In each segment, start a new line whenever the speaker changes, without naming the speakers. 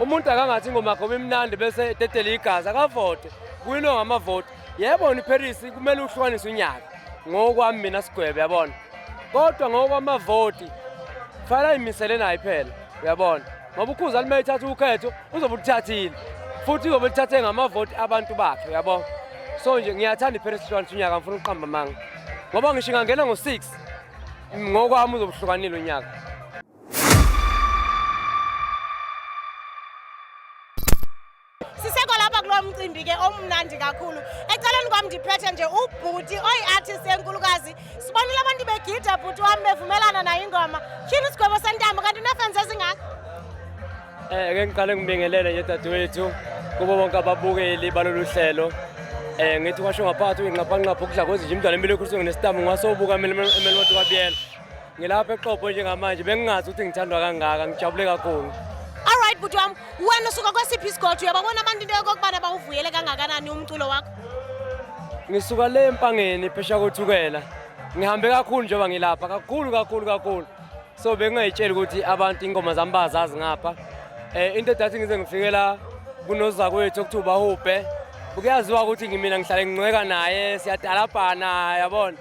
umuntu akangathi ingoma yakho imnandi bese etetele igazi akavote kuyinto ngamavoti yebona iparis kumele uhlukanise unyaka ngokwami mina sigwebe yabona kodwa ngokwamavoti kufanele ayimisele naye phela uyabona ngoba ukhuza lime ithatha ukhetho uzobe ulithathile futhi uzobe lithathe ngamavoti abantu bakhe uyabona so nje ngiyathanda iparis hlukanisa unyaka ngifuna ukuqamba amanga ngoba ngisho ingangena ngo-six ngokwami uzobuhlukanile unyaka
sisekho lapha kulo mcimbi ke omnandi kakhulu eceleni kwam ndiphethe nje ubhuti oyi-artist enkulukazi sibonile abantu begida bhuti wam bevumelana nayo ingoma tyhini isigwebo sentambo kanti unefensi ezingaka um
eh, ke ngiqale ngibingelele nje dadewethu kubo bonke ababukeli balolu hlelo um ngithi kwasho ngaphakathi uyinxaphanxapha ukudla kwezinje imdlalo empilo ekhuliswe nginesitambo ngwasobuka emele wathi kwabiyela Ngilapha eXopo njengamanje bengingazi ukuthi ngithandwa kangaka ngijabule kakhulu. Alright bhuti
wami wena usuka kwesiphi isigodlo uyababona abantu into yokokubana bawuvuyele kangakanani umculo wakho? Ngisuka
le empangeni phesha kothukela. Ngihambe kakhulu njengoba ngilapha kakhulu kakhulu kakhulu. So bengingayitsheli ukuthi abantu ingoma zami bazazi ngapha. Eh into edathi ngize ngifikela kunozakwethu okuthiwa ubahubhe. Kuyaziwa ukuthi ngimina ngihlale ngincweka naye siyadalabhana yabona.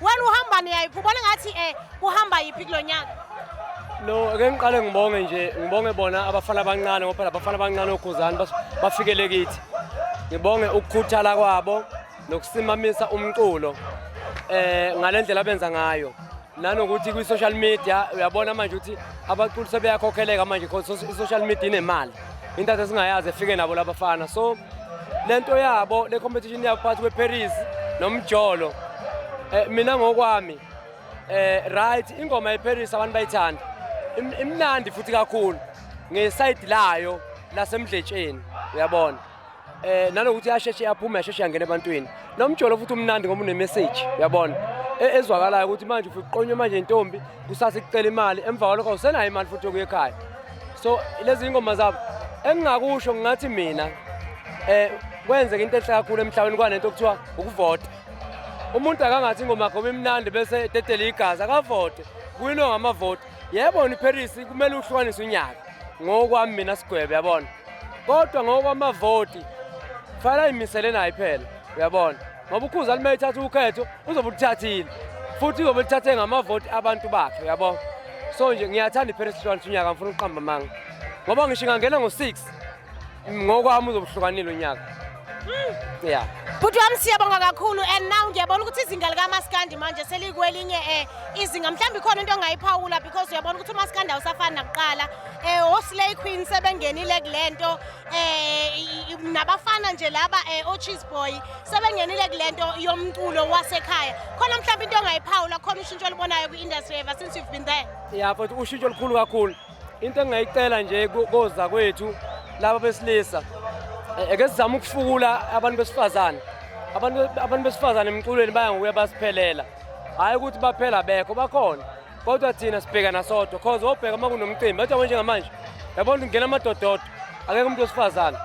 Wena uhamba niyayiphi? Ubona ngathi eh kuhamba yiphi kulonyaka? No,
ake ngiqale ngibonge nje, ngibonge bona abafana abancane ngoba phela abafana abancane oGuzani bafikele kithi. Ngibonge ukukhuthala kwabo nokusimamisa umculo eh ngalendlela abenza ngayo. nanokuthi kwi-social media uyabona manje ukuthi abaculi sebeyakhokheleka manje because i-social media inemali into ade singayazi efike nabo labafana so lento yabo le competition yabo phakathi kweParis nomjolo eh, mina ngokwami eh right ingoma yeParis abantu bayithanda imnandi futhi kakhulu ngeside layo lasemdletsheni uyabona eh nanokuthi yasheshe yaphume yasheshe yangena ebantwini nomjolo futhi umnandi ngoba une message uyabona e, ezwakalayo ukuthi manje ufike uqonywe manje intombi kusasa icela imali emva kwalokho usenayo imali futhi okuye ekhaya so lezi ingoma zabo engingakusho ngingathi mina eh kwenzeka into enhle kakhulu emhlabeni kwanento okuthiwa ukuvota umuntu akangathi ingoma yakho bimnandi bese etetele igazi akavote kuyinonga amavoti Yebo ni Paris kumele uhlukanise unyaka ngokwami mina sigwebe yabona. Kodwa ngokwamavoti fanele imisele naye phela uyabona. Ngoba ukhuza alimele ithatha ukhetho uzobe uthathile. Futhi uzobe uthathe ngamavoti abantu bakhe uyabona. So nje ngiyathanda iParis ihlukanise unyaka ngifuna ukuqamba manga. Ngoba ngisho ngangena ngo6 Ngokwami uzobuhlukanile unyaka. Mm. Yeah. Bhuti wami
siyabonga kakhulu and now ngiyabona ukuthi izinga likamaskandi manje selikwelinye eh izinga mhlawumbe ikhona into ongayiphawula because uyabona ukuthi umaskandi awusafani nakuqala eh oslay queen sebengenile kulento eh nabafana nje laba eh ocheese boy sebengenile kulento yomculo wasekhaya khona mhlawumbe into ongayiphawula khona ushintsho olubonayo kwi-industry ever since you've been there yeah but ushintsho
olukhulu kakhulu into engingayicela nje koza kwethu laba besilisa eh, eke sizama ukufukula abantu besifazane abantu besifazane emculweni baya ngokuya basiphelela hhayi ukuthi baphela bekho bakhona kodwa thina sibhekana sodwa cause wobheka uma kunomcimbi bathi yabo njengamanje yabona ukuthi kungena amadododo akekho umuntu wesifazane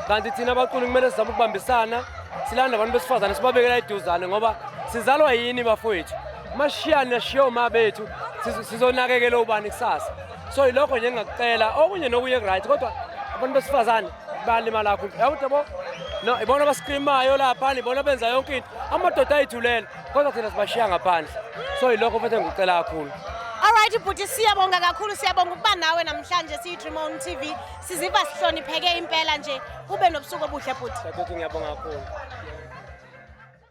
kanti thina abaculi kumele sizame ukubambisana silanda abantu besifazane sibabekela iduzane ngoba sizalwa yini bafowethu mashiyane nashiye uma bethu sizonakekela ubani kusasa so yilokho nje engakucela okunye nokunye right kodwa abantu besifazane balimala kakhulu yawuthi yabo no ibona abaskrimayo lapha ibona benza yonke into amadoda ayithulela kodwa thina sibashiya ngaphandle so yilokho futhi engikucela kakhulu Alright bhuti
siyabonga kakhulu siyabonga ukuba nawe namhlanje siyi Dream On TV siziva sihlonipheke
impela
nje ube nobusuku obuhle bhuti. Ngiyabonga kakhulu.